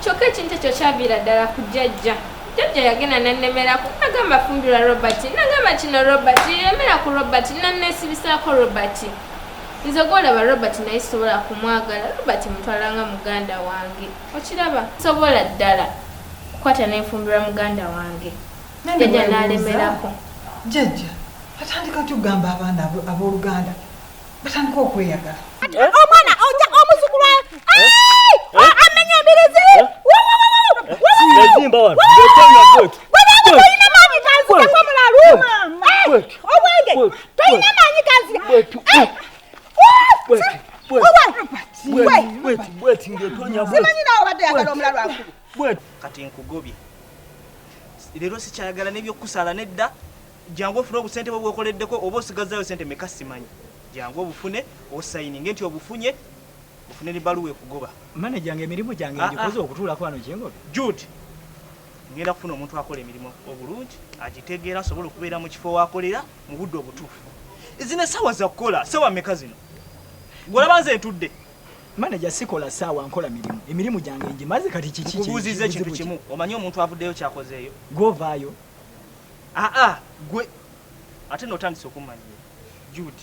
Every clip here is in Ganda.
kyokka ekintu ekyo kyaviira ddala ku jjajja jjajja yagenda nannemerako nagamba fumbirwa robert nagamba kino robert yemera ku robert nanneesibisaako robert nze gwolaba robert naye sobola kumwagala robert mutwala nga muganda wange okiraba sobola ddala kukwata nenfumbirwa muganda wange jajja nalemerako jajja atandika kyogamba abaana abooluganda batandika okweyagala omwana omuzukulu amenya embirizi toyina maanyi kanzikako mulalu obwenge toyina maanyi kanzika simanyi nawe obadde yagala omulalu akulu bwetu kati nkugobye leero sikyayagala nebyokukusaala nedda jangu ofune obusente bwe bwekoleddeko oba osigazzayo sente meka simanyi jangu obufune osayininge nti obufunye ofune ne baluwa ekugoba manaja nga emirimu gyange ah, ngikoze ah. okutuulako wano kyengobe jud ngenda kufuna omuntu akola emirimu obulungi agitegeera asobola okubeera mu kifo wakolera mu budde obutuufu zino esawa zakukola sawa meka zino golabanze ntudde Manager sikola saawa nkola mirimu. Emirimu gyange ngimaze kati kiki kye. Nkubuuzizza ekintu kimu. Omanyi omuntu avuddeyo kyakozeeyo? Gwe ovaayo. Ah ah gwe ate n'otandise okummanya Jude.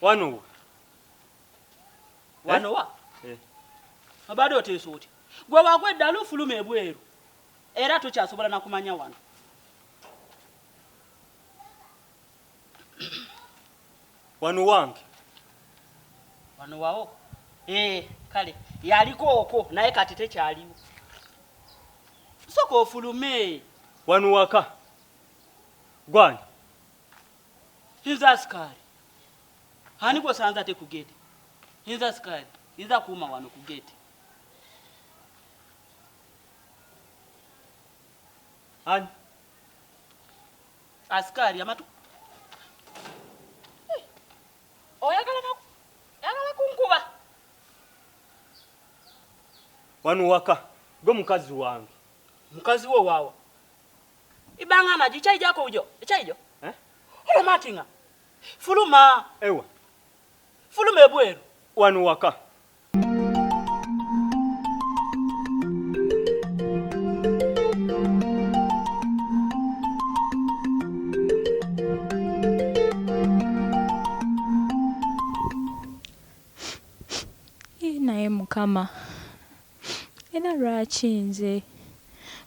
wano eh? wano wa eh. abadde oteesa oti gwe wagwa eddala ofuluma ebweru era tokyasobola nakumanya wano wano wange wano wawo eh, kale yaliko okwo naye kati tekyaliwo soka ofulume wano waka gwani inza asikali ani gwosanza te kugeti inza asikali inza kuuma wano kugeti ani Askari amatu eh, oyagala oh, yagala kunkuba wano waka gwe mukazi wange mukazi wo wawa ibanga maji chai jako ujo chai jo eh oyo matinga fuluma ewa fuluma ebweru wano waka naye mukama era lwaki nze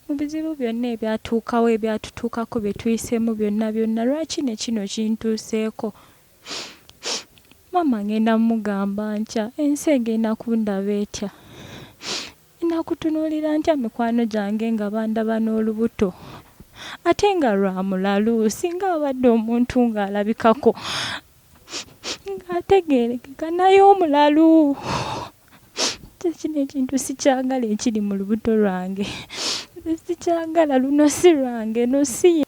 mu bizibu byonna ebyatuukawo ebyatutuukako bye tuyisemu byonna byonna lwaki ne kino kintuuseeko Maama ngenda mugamba ntya ensi egenda kundaba etya enakutunulira ntya mikwano gyange nga bandaba n'olubuto ate nga lwa mulalu singa abadde omuntu ng'alabikako ng'ategeerekeka naye omulalu kyekino ekintu sikyagala ekiri mu lubuto lwange sikyagala luno si lwange no si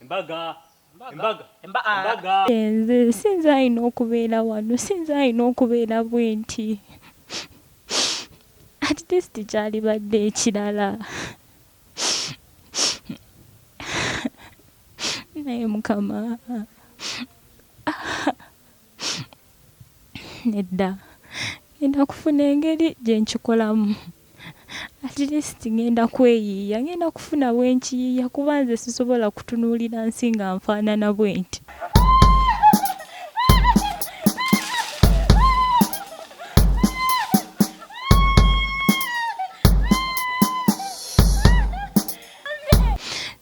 Embaga. Embaga. Embaga. Enze sinze ayina okubeera wano sinze ayina okubeera bwenti at least kyalibadde ekirala naye mukama Nedda, ŋŋenda kufuna engeri gye nkikolamu. At least ŋŋenda kweyiiya, ŋŋenda kufuna we nkiyiiya kuba nze sisobola kutunuulira nsi nga nfaanana bwenti.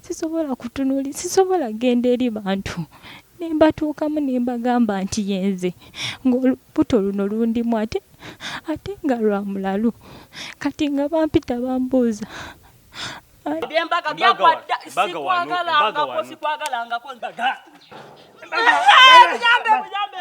Sisobola kutunuuli, sisobola kugenda eri bantu. Ne mbatuukamu ne mbagamba nti, Ye nze, ng'olubuto luno lundimu ate, ate nga lwa mulalu. Kati nga bampita bambuuza, Ani. Eby'embaga byagwa dda. Sikwagalangako, sikwagalangako. Embaga! Embaga! Muyambe, muyambe!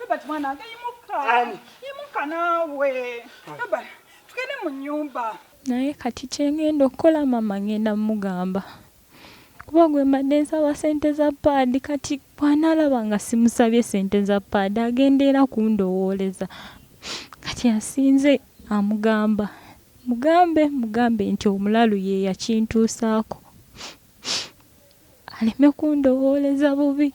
Robert mwana wange yimuka. Yimuka naawe. Robert tugende mu nnyumba. Naye kati kye ngenda okukola maama ngenda mugamba. Kuba gwe mbadde nsaba ssente za paadi kati bw'anaalaba nga simusabye ssente za paadi agenda era kundowooleza. Kati asinze amugamba. Mugambe mugambe nti omulalu ye yakintuusaako aleme kundowooleza bubi.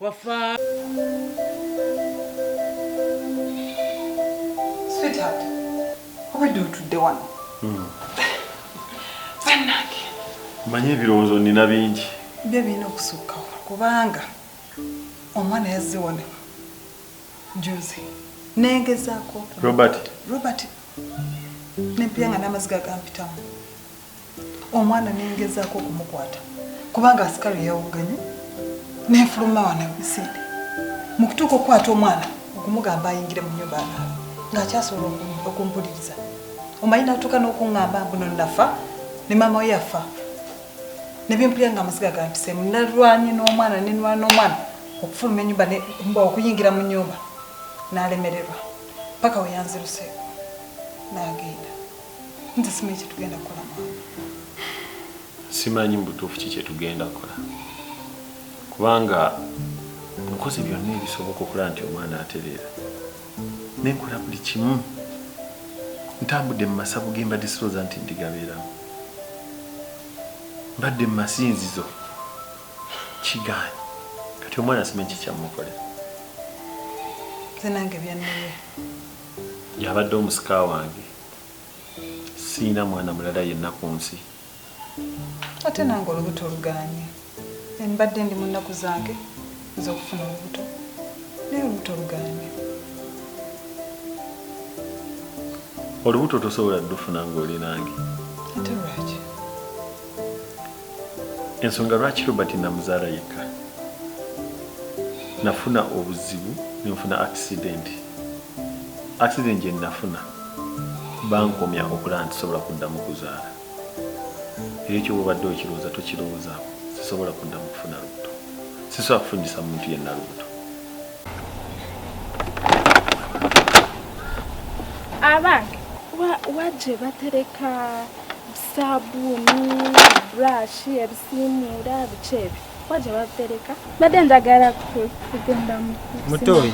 Wafa. Sweetheart, obadde otudde wano. Hmm. Bannange. Mmanyi ebirowoozo nina bingi. Byo birina okusukkawo kubanga omwana yazze wano juzi nengezaako Robert Robert nempira nga n'amaziga gampitamu omwana nengezaako okumukwata kubanga asikalu yawugganye nenfuluma wano emisinde mu kutuuka okukwata omwana okumugamba ayingire mu nyumba anaaba ng'akyasobola okumpuliriza omanyi natuuka n'okuŋŋamba mbuno nafa ne maama we yafa ne bempulira nga amaziga gampiseemu nalwanye n'omwana nenwana omwana okufuluma enyumba okuyingira mu nyumba nalemererwa paka weyanziruseeko nagenda nze simanyi kyetugenda kukola maama simanyi mu butuufu ki kyetugenda kukola kubanga nkoze byonna ebisoboka okulaba nti omwana atereera nenkola buli kimu ntambudde mu masabu gembadde sirooza nti ndigabeeramu mbadde mu masinzizo kigaanyi kati omwana simanyi kikyamukolera nze nange byannumye yabadde omusika wange siyina mwana mulala yenna ku nsi ate nange olubuto oluganye embadde ndi mu nnaku zange ez'okufuna olubuto naye olubuto oluganye olubuto tosobola dufuna ng'oli nange ate lwaki ensonga lwaki robert namuzaala yekka nafuna obuzibu nenfuna accident accident gyenafuna bankomya okulaba nti sobola kuddamu kuzaala era ekyo bwobadde okirowooza tokirowoozaako sisobola kuddamu kufuna lubuto sisobola kufunyisa muntu yenna lubuto abange wagye batereka saabuuni burashi ebisiimuura biki ebyo kuba gye babitereka mbadde njagala kugenda mutoyi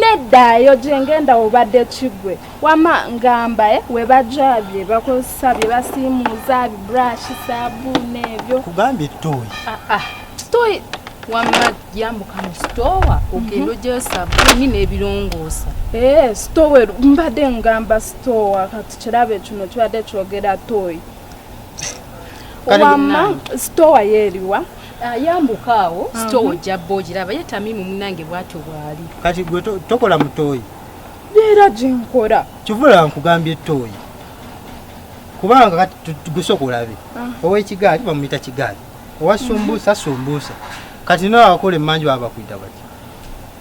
neddayo gyengenda obadde kigwe wama ngamba eh, webajja bye bakozesa bye basiimuuza bi burashi saabuuni ebyo kugambye toyi ah, ah. toyi wamma yambuka mu sitoowa ogenda ogyeyo mhm. sabuuni n'ebirongoosa eh, sitoowa mbadde ngamba sitoowa kirabe kino kibadde kyogera toyi wamma sitowa yeeriwa ayambuka ah, awo sitowa ojja bba ogiraba ye tamimu munange bwatyo bwali kati gwe tokola mutoyi beera gyenkola kivula nkugambye toyi kubanga kati gusooka olabe ah. owekigaali bamuyita kigaali owasumbuusa sumbuusa kati nawe akola emanju baba bakwita bati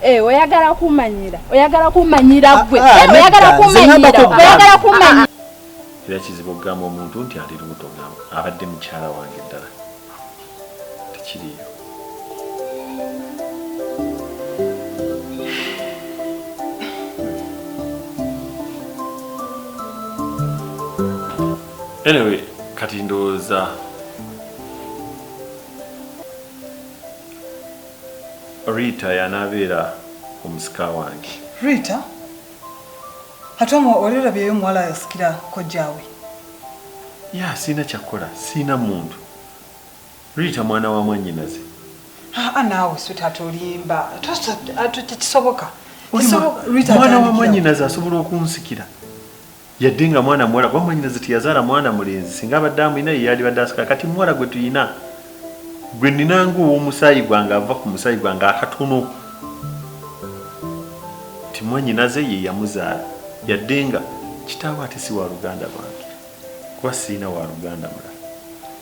Eh, oyagala kumanyira oyagala kumanyira ah, gwe ah, eh, oyagala kumanyira oyagala kumanyira ah, era kizibu okugamba omuntu nti ali lubuto ngamba abadde mukyala wange ddala tekiriyo anyway kati ndowooza Rita yanabeera omusika wange. Rita? Ate omwo wali olabyeyo omuwala asikira kojjaawe? Yaa sirina kyakukola sirina muntu. Rita mwana wa mwannyinaze. Haa naawe sweetheart olimba tekisoboka. Mwana wa mwannyinaze asobola okunsikira? Yadde nga mwana muwala kuba mwanyinaze teyazaala mwana mulenzi singa abadde amulina ye yaalibadde asika kati muwala gwe tulina gwe nnina ng'ow'omusaayi gwange ava ku musaayi gwange akatono nti mwanyinaze ye yamuzaala yadde nga kitaawe ate si wa luganda lwange kuba sirina wa luganda mulala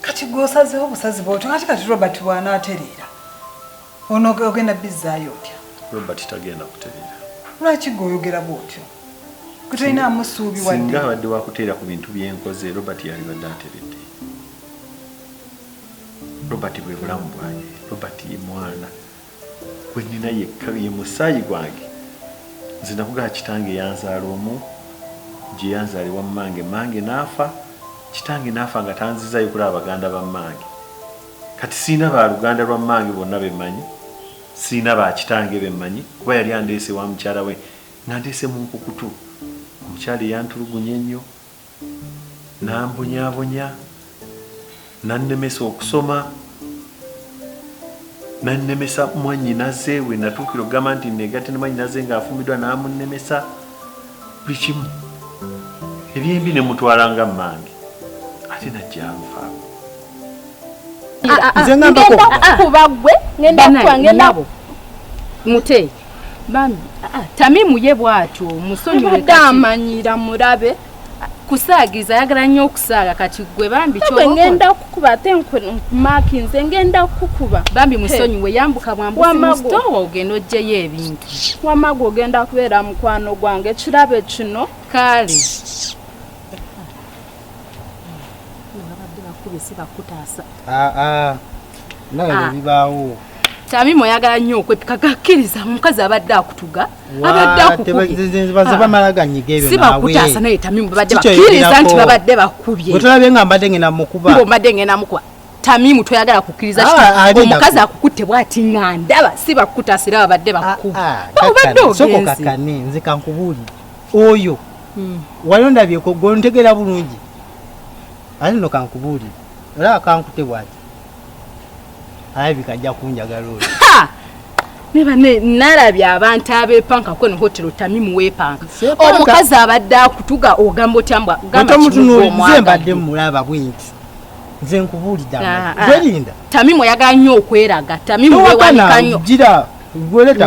kati gwe osazeewo busazi bw'otyo ate kati robert bw'anaatereera Ono ogenda bizzaayo otya? Robert tagenda kutereera. Lwaki gwe oyogera bwotyo? Gwe tolina amusuubi wadde. Singa abadde wakuteera ku bintu byenkoze Robert yalibadde ateredde. Robert bwe bulamu bwange. Robert ye mwana gwe nina yekka ye musaayi gwange. Nze nakugaa kitange yanzaala omu gye yanzaala ewa mmange. Mmange n'afa, kitange n'afa nga tanzizaayo kulaba baganda ba mmange. kati sirina ba luganda lwa mmange bonna be mmanyi, sirina ba kitange be mmanyi kuba yali andeese ewa mukyala we ng'andeese mu nkukutu. Omukyala eyantulugunya ennyo, n'ambonyaabonya, n'annemesa okusoma, n'annemesa mwannyinaze we natuukira okugamba nti nneegatte ne mwannyinaze ng'afumbidwa n'amunnemesa buli kimu. Ebyembi ne mmutwala nga mmange ate n'ajja anfaako. mute bambi tamimu ye bwatyo musonyiweamanyira murabe kusaagiza ayagala nnyo okusaaga kati gwe bambi ngenda kukuba ate nkumaki nze ngenda kukuba bambi musonyiwe yambuka bwambusitowa ogenda ojjeyo ebintu wamagu ogenda kubeera mukwano gwange ekirabe kino kaale Ah, ah. naye ah. bibaawo tamima oyagala nnyo okwepika gakkiriza omukazi abadde akutuga abadde akukubyebamala ganyiga ebyo sibakutaasa naye tamima babadde bakkiriza nti babadde bakubye wetulabye nga mbadde ngenda mukuba mbadde ngenda mukuba tamimu toyagala kukkiriza omukazi akukutte bwati nga ndaba sibakutaasa era babadde bakukuba obadde ogenzi nzika nkubuulire oyo hmm. wali ondabyeko gwe ontegera bulungi ate no kankubuulire olaba kankute bwati alabika ajja kunjagala oyo nebane nalabye abantu abepanka kweno hotero tamimu wepanka omukazi abadde akutuga ogamba otya mbwa gamamutunulize mbadde mulaba bwenti nze nkubuulidde ah, ah. gwerinda tamimu oyagala nnyo okweraga tamimu wewanika nnyo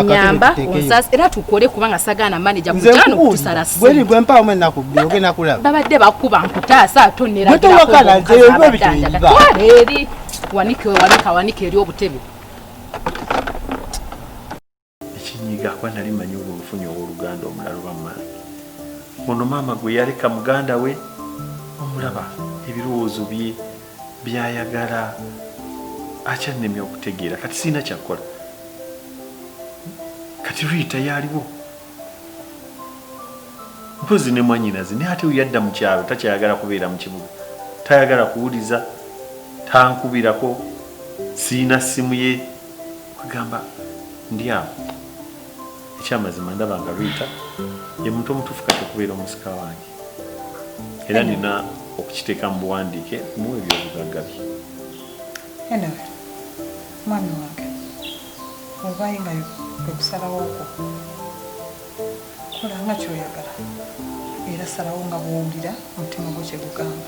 nyamba onsas era tukole kubanga sagaana maneja kujano kutusala sibweri gwe mpaawo mwe nakubbi ogenda kulaba babadde bakuba nkutaasa ate oneragiraeri wanike wanika wanike eri obutebe ekinyiga kuba nali manyi olwo nfunye owoluganda omulala oba mwana ono maama gwe yaleka muganda we omulaba ebirowoozo bye byayagala akyannemye okutegeera kati sirina kyakukola kati riita yaliwo mpozi ne mwanyinaze naye ate yadda mu kyalo takyayagala kubeera mu kibuga tayagala kuwuliza tankubirako sirina ssimu ye agamba ndi awo ekyamazima ndaba nga riita ye muntu omutuufu kati okubeera omusika wange era nina okukiteeka mu buwandiike mu ebyobugagga bye anyway mwami wange obaye nga okusalawo okwo kola nga kyoyagala era salawo nga bwowulira omutima gwo kyegugamba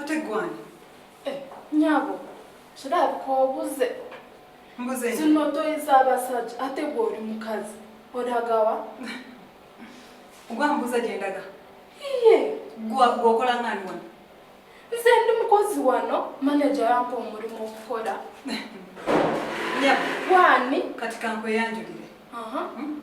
ate gwani eh, nyabo kirabika obuze zino toyi z'abasajja ate gwe oli mukazi olagawa gwambuza gyendaga iye gwokola ngani wano nze ndi mukozi wano maneja yampa omulimu okukola gwani kati kankweyanjulire hmm?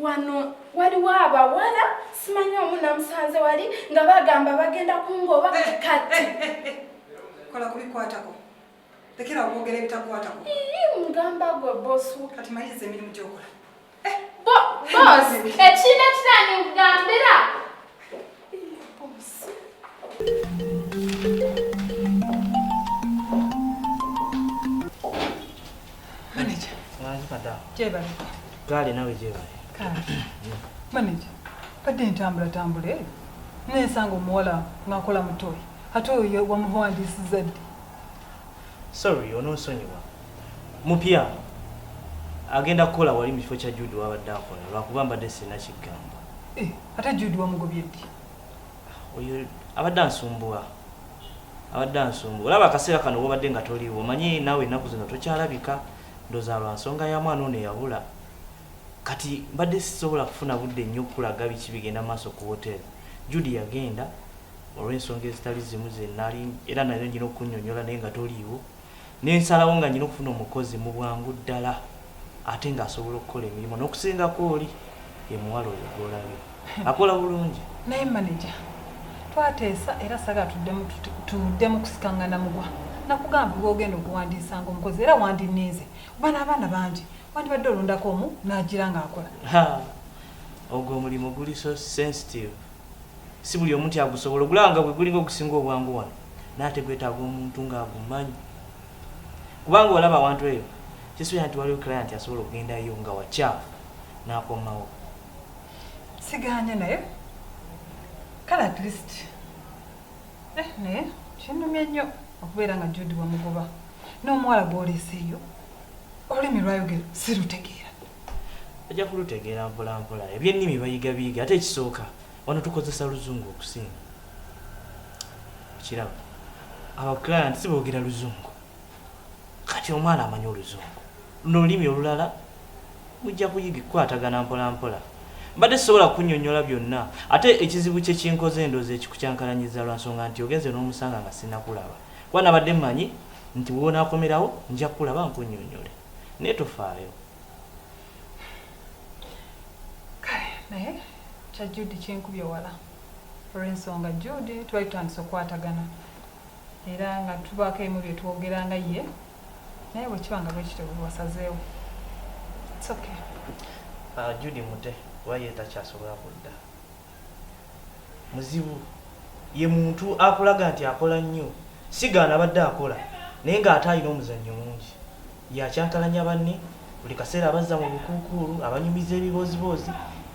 wano waliwo abawala simanyi omu namusanze wali nga bagamba bagenda kungoba eh, eh, kati eh, kola kubikwatako tekera okwogera ebitakwatako mugamba gwe bosu kati mayiriza emirimu gyokola bosi ekiina kirani kugambira gaali nawe gyebali maneja badde ntambulatambula eyo nensanga omuwala ngakola mutoyi ate oyo wamuwandiisiza ddi sorry ononsonyiwa mupya agenda kukola wali mu kifo kya jude wabadde akola lwakuba mbadde sirina kigambo eh, ate jude wamugobye ddi oyo abadde ansumbuwa abadde ansumbuwa olaba akaseera kano wobadde nga toliiwo omanyi naawe ennaku zino tokyalabika ndoza lwa nsonga ya mwana ono eyabula kati mbadde sisobola kufuna budde nnyo okukulaga biki bigenda maaso ku woteri jude yagenda olw'ensonga ezitali zimu zenaali era nayo nyina okunyonyola naye nga toliiwo ne nsalawo nga nnyina okufuna omukozi mu bwangu ddala ate ng'asobola okukola emirimu n'okusingako oli ye muwala oyo gw'olabye akola bulungi. Naye maneja twateesa era saagala tuddemu kusikangana mugwa. Nakugamba gw'ogenda okuwandiisa ng'omukozi era wandinninze kuba n'abaana bangi wandibadde olondako omu n'agira ng'akola. Ha, ogwo omulimu guli so sensitive si buli omu nti agusobola ogulaba nga bwe gulinga ogusinga obwangu wano. naye ate gwetaaga omuntu nga agumanyi kubanga olaba awantu eyo kisuubira nti waliwo client asobola okugendayo nga wakyafu n'akomawo siganye naye kale at least eh, naye kinumye nnyo okubeera nga judi wamugoba n'omuwala gwoleeseeyo olulimi lwayogera sirutegeera ajja kulutegeera mpolampola ebyennimi bayiga biyiga ate ekisooka Wano tukozesa luzungu okusinga. Okiraba? Our client si boogera luzungu. Kati omwana amanyi oluzungu. Luno olulimi olulala mujja kuyiga kukwatagana mpola mpola. Mbadde sisobola kunyonyola byonna ate ekizibu kye kinkoze endoozi ekikukyankalanyiza lwa nsonga nti ogenze n'omusanga nga sinakulaba. Kuba nabadde mmanyi nti woonakomerawo nja kulaba nkunyonyole. Naye tofaayo. kale naye kya jude kyenkubye wala olwensonga jude twali tutandise okukwatagana era nga tubaako emu byetwogera nga ye naye bwekiba nga bwekityo bwewasazeewo okay. uh, ah, jude mute kuba ye takyasobola kudda Muzibu ye muntu akulaga nti akola nnyo, Sigaana abadde akola naye ng'ate alina omuzannyo mungi. Ye acankalanya banne, buli kaseera abazza mu bukuukuulu, abanyumiza ebibooziboozi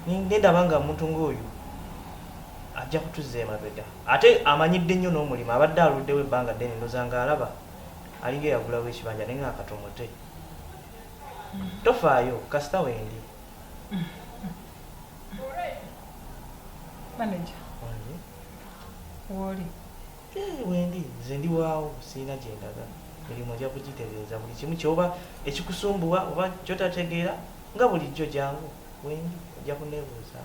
ne ndaba nga omuntu ng'oyo ajja kutuzza emabega. Ate amanyidde nnyo n'omulimu, abadde aluddewo ebbanga ddene ndowooza ng'alaba alinga eyagulawo ekibanja naye nga katomote. Tofaayo, kasita wendi. Manager. Wange. Woli. Eh, wendi nze ndi waawo sirina gye ndaga mirimu ojja kugitereeza buli kimu kyoba ekikusumbuwa oba kyotategeera nga bulijjo jangu wendi ojja kuneebuuza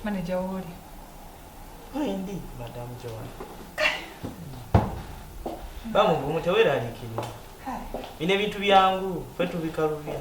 Manager woli. Wendi madam Joan. Bamu bumu tewera alikini. Bine bintu byangu fwe tubikalubya.